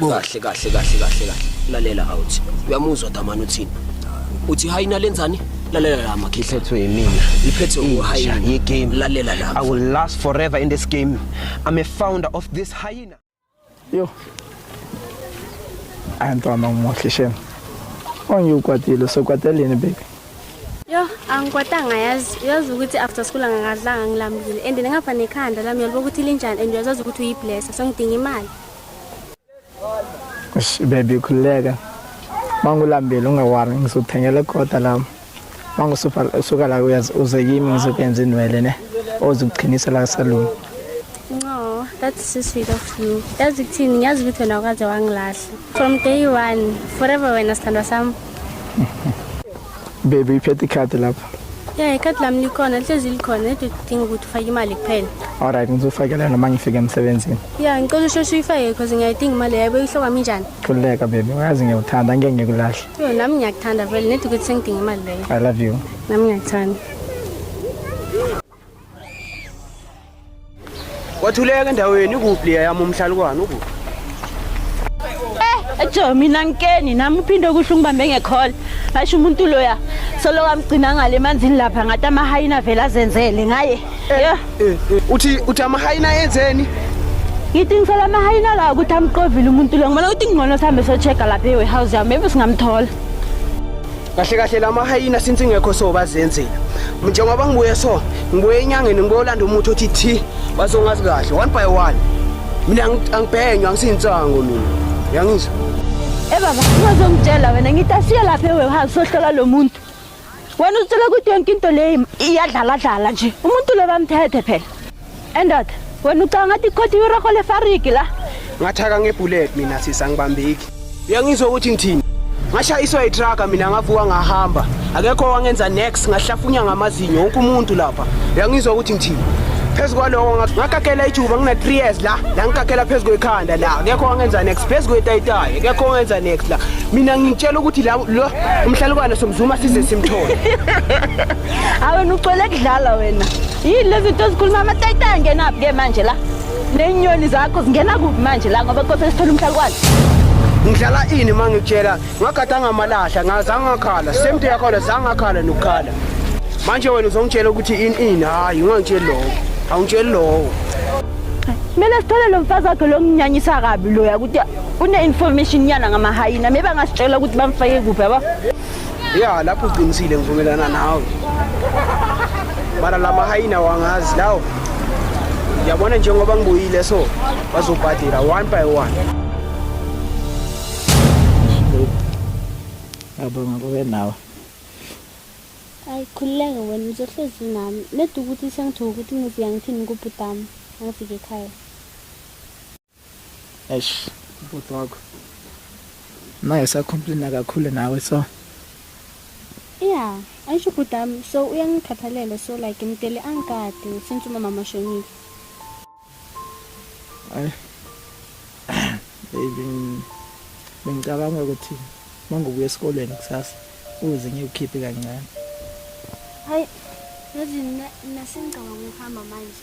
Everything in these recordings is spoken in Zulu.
kahle kahle kahle kahle kahle lalela awuthi uyamuzwa damani uthini uthi hayi nalenzani lalela la makhihle iphethwe yimina iphethwe nguhayina ye game lalela la i will last forever in this game i'm a founder of this hyena yo antwana umuhle shem ongikwatile sokwateleni baby Yo angikwatanga yazi uyazi ukuthi after school angagadlanga ngilambile and nengapha nekhanda lami yalibo ukuthi linjani and uyazazi ukuthi uyiblessa so ngidinga imali baby khululeka mangulambile ungawari ngizothengela kodwa lami mangusuka la uze kimi ngizokwenza inwele ne ozokuqhinisa la saluni no that's so sweet of you yazi kuthini ngiyazi ukuthi wena ukaze wangilahla from day one forever wena sithandwa sami Baby iphethe ikhadi lapha. Yeah, ikhadi lami likhona, lihlezi likhona, nedi udinga ukuthi ufake imali kuphela. Alright, ngizofakela noma ngifike emsebenzini. Yeah, ngicela usheshe uyifake because ngiyayidinga imali yabo ihloka minjani. Khululeka baby, uyazi ngiyawuthanda, angeke ngikulahle. Yo, nami ngiyakuthanda vele, nedi ukuthi sengidinga imali leyo. I love you. Nami ngiyakuthanda. Wathuleka endaweni ikuphi leya yami umhlalukwane ukuphi? Eh, ejo mina ngikeni nami uphinde kuhle ungibambe ngekhola. Asho umuntu loya solo kamgcina ngale emanzini lapha ngathi amahayina vele azenzele ngaye. Eh, Yo, eh, eh, uthi uthi amahayina yenzeni? ngithi ngisela amahayina la ukuthi amqovile umuntu lo. Ngibona ukuthi ngcono sihambe sochecka lapha ewarehouse yami maybe singamthola. kahle kahle lama hyena since ingekho so bazenzela njengoba ngibuye so ngibuye enyangeni ngibuye olanda umuthi othi thi bazongazi kahle one by one mina angibhenywa ngisintsango mina yangizwa Eh baba ungazongitshela wena ngithi asiye lapha ewarehouse sohlola lo muntu wena uzitshela ukuthi yonke into leyi iyadlaladlala nje umuntu lo bamthethe phela Endoda, wena ucanga ngathi ikhotha iroho lefariki la. Ngathaka ngebullet mina sisa ngibambeki. Uyangizwa ukuthi ngithini? Ngashayiswa itruck mina ngavuka ngahamba. Akekho wangenza next ngahlafunya ngamazinyo wonke umuntu lapha. Uyangizwa ukuthi ngithini? phezu kwaloko ngakakela ijuba ngina 3 years la la ngikakela phezu kwekhanda la akekho wangenza next phezu kwetayitayi akekho wangenza next la mina ngitshela ukuthi la lo umhlalukwane somzuma size simthole awena ucwele kudlala wena yini lezi zinto ezikhuluma amatayita angenaphi ke manje la ney'nyoni zakho zingena kuphi manje la ngoba kose sithole umhlalukwane ngidlala ini uma ngikutshela ngagada ngamalahla ngazangakhala same to yakhona zangakhala nokukhala manje wena uzongitshela ukuthi ini ini hhayi ungangitsheli lowo awungitsheli lowo kumele sithole lo mfazi wakhe lo nginyanyisa kabi loya ukuthi une-information nyana ngamahayina maybe angasitshela ukuthi bamfake kuphi yabo ya lapho uqinisile ngivumelana nawe mara la mahayina wangazi lawo yabona njengoba ngibuyile so bazobhadela one by one yabonga kube nawe ayikhululeke wena uzohlezi nami nedi ukuthi sengithoka ukuthi ngiziyangithini kubhutami angifike ekhaya Eish, ubhuti wakho. Naye usacomplaina kakhulu nawe so. Yeah, ayisho ubhuti wami so uyangikhathalela so like ngimdele angikade since umama mashonile. Ay. Baby bengicabanga ukuthi mangobuya esikoleni kusasa uze ngikukhiphe kancane. Hayi, yazi nasengicabanga ukuhamba manje.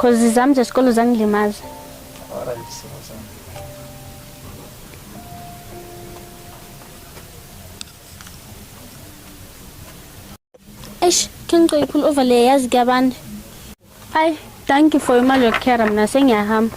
Cause izami zesikolo zangilimaza. Alright, simo sami. Eish, ke ngicela iphula over le yazi kuyabanda. Ay, thank you for imali yokukhera mina sengiyahamba.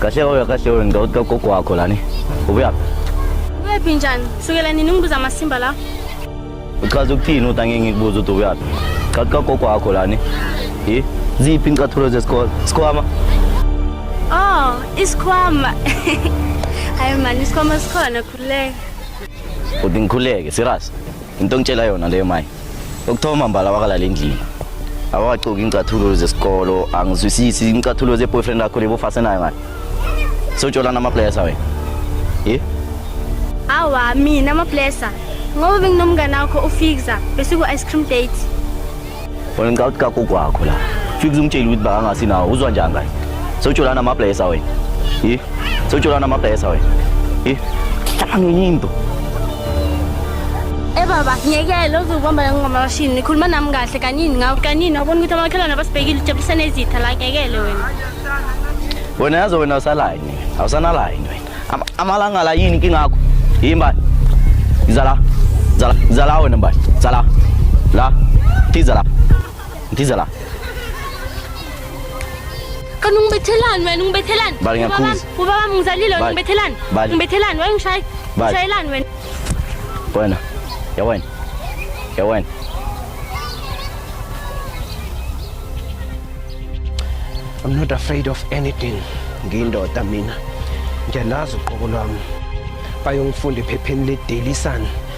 Kahle wewe, kahle wewe, ngidoda gogo wakho lani. Ubuyaphi? Ubuyaphi njani? Sukela nini ungibuza amasimba la? Uchaza ukuthini uthi angeke ngikubuze ukuthi ubuyaphi? Chathi kagogo wakho lani. Yi? Ziphi incathulo zesikole? Sikhwama? Oh, isikhwama. Hayi mani, isikhwama sikhona khululeka. Uthi ngikhuleke, serious. Into ongitshela yona leyo mayi. Ukuthoma mbala wakalala endlini. Awakacoki incathulo zesikolo, angizwisisi incathulo ze boyfriend yakho lebo fase nayo ngani. So jola nama players awe. Eh? Awa mina ama blesser. Ngoba benginomngane wakho uFixa bese ku ice cream date. Wena ngicela ukuthi kagogo wakho la. Fika umtshele ukuthi bakangasi nawo uzwa njani ngaye. So jola nama players awe. Eh? So jola nama players awe. Eh? Hlangene into. Eh baba, ngiyekele uzubamba yonke ngamashini. Nikhuluma nami kahle kanini ngawo kanini wabona ukuthi amakhelwane abasibhekile ujabulisa nezitha la ngiyekele wena. Wena yazi wena usalayini. Awusanalayini wena. Am- Amalanga la yini inkinga yakho? Yini bani? Zala. Zala. Zala wena bani. Zala. La. Tiza la. Ndiza la. Kanti ungibethelani wena ungibethelani? Bali ngiyakhuza. Ubaba wami ngizalile wena ungibethelani? Ungibethelani wena ungishaya? Ushayelani wena? Wena. Ya wena. Ya wena. I'm not afraid of anything. Ngiyindoda mina. Ngiyazi uqobo lwami. Bayongifunda ephepheni le Daily Sun.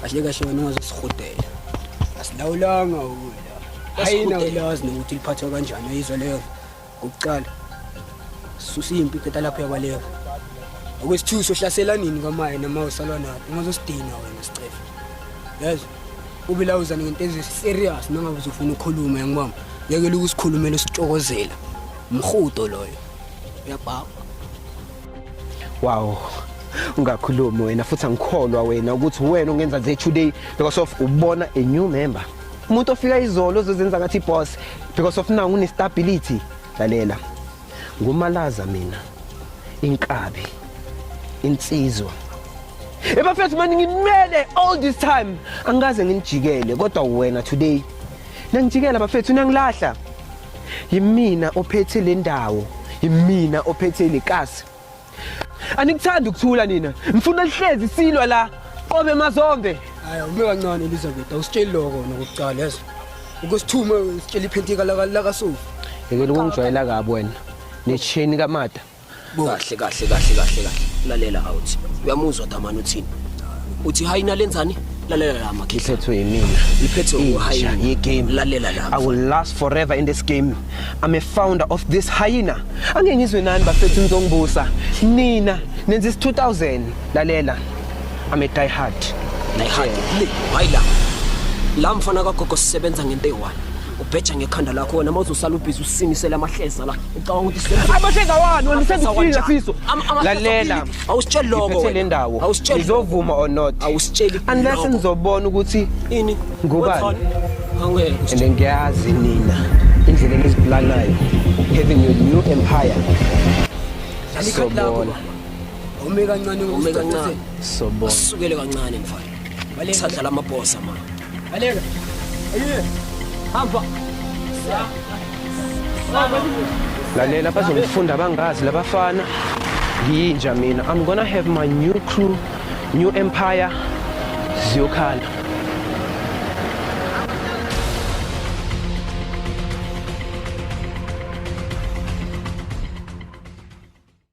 kahle kahle wena ungazosihudela asilawulanga ukudla ayina ulazi nokuthi liphathwa kanjani uyizwa leyo ngokuqala susa impi qeda lapho yakwaleyo okwesithusi sohlasela nini kwamaye noma usalwa napi ungazosidina wena sicefe yazi ube lawuzane ngento eziserious nangabe uzofuna ukhulume yangibamba yekela ukusikhulumela usixokozela mhudo loyo uyabhaba wow ungakhulumi wena futhi angikholwa wena ukuthi wena ungenza nje today because of ubona a new member umuntu ofika izolo ozozenza ngathi boss because of nangu unestability lalela ngumalaza mina inkabi insizwa ebafethu mani ngimele all this time angikaze ngimjikele kodwa wena today nangijikela bafethu nangilahla yimina ophethe le ndawo yimina ophethe le kasi anikuthanda ukuthula nina ngifuna lihlezi silwa la qobe mazombe hayi ube kancane Elizabeth awusitsheli lokho nokuqala lezo ukusithume usitshela iphentika laka laka sofa yekela ukungijwayela kabi wena necheni kamada kahle kahle kahle kahle kahle lalela awuthi uyamuzwa damani uthini uthi hayi nalenzani lalela la makhehla liphethwe yimina liphethwe nguhayina yegame lalela la i will last forever in this game i'm a founder of this hyena angeke ngizwe nani bafethu nizongibusa nina nenza is 2000 lalela i'm a die hard die hard le hayi la la mfana kagogo sisebenza ngento eyi-one ubheja ngekhanda lakho wena uma uzosala ubhizi usimisele amahleza la ucabanga ukuthi senzo amahleza wani wena usendifika siso lalela awusitsheli lokho le ndawo awusitsheli izovuma or not awusitsheli unless nizobona ukuthi ini ngubani and ngiyazi nina indlela enizipulanayo having your new empire sobona ume kancane ume kancane sobona usukele kancane mfana Baleka. Sadlala amabhosa ma. Baleka. Ayiye. Hamba. Lalela bazongifunda bangazi labafana. Ngiyinja mina. I'm gonna have my new crew, new empire. Ziyokhala.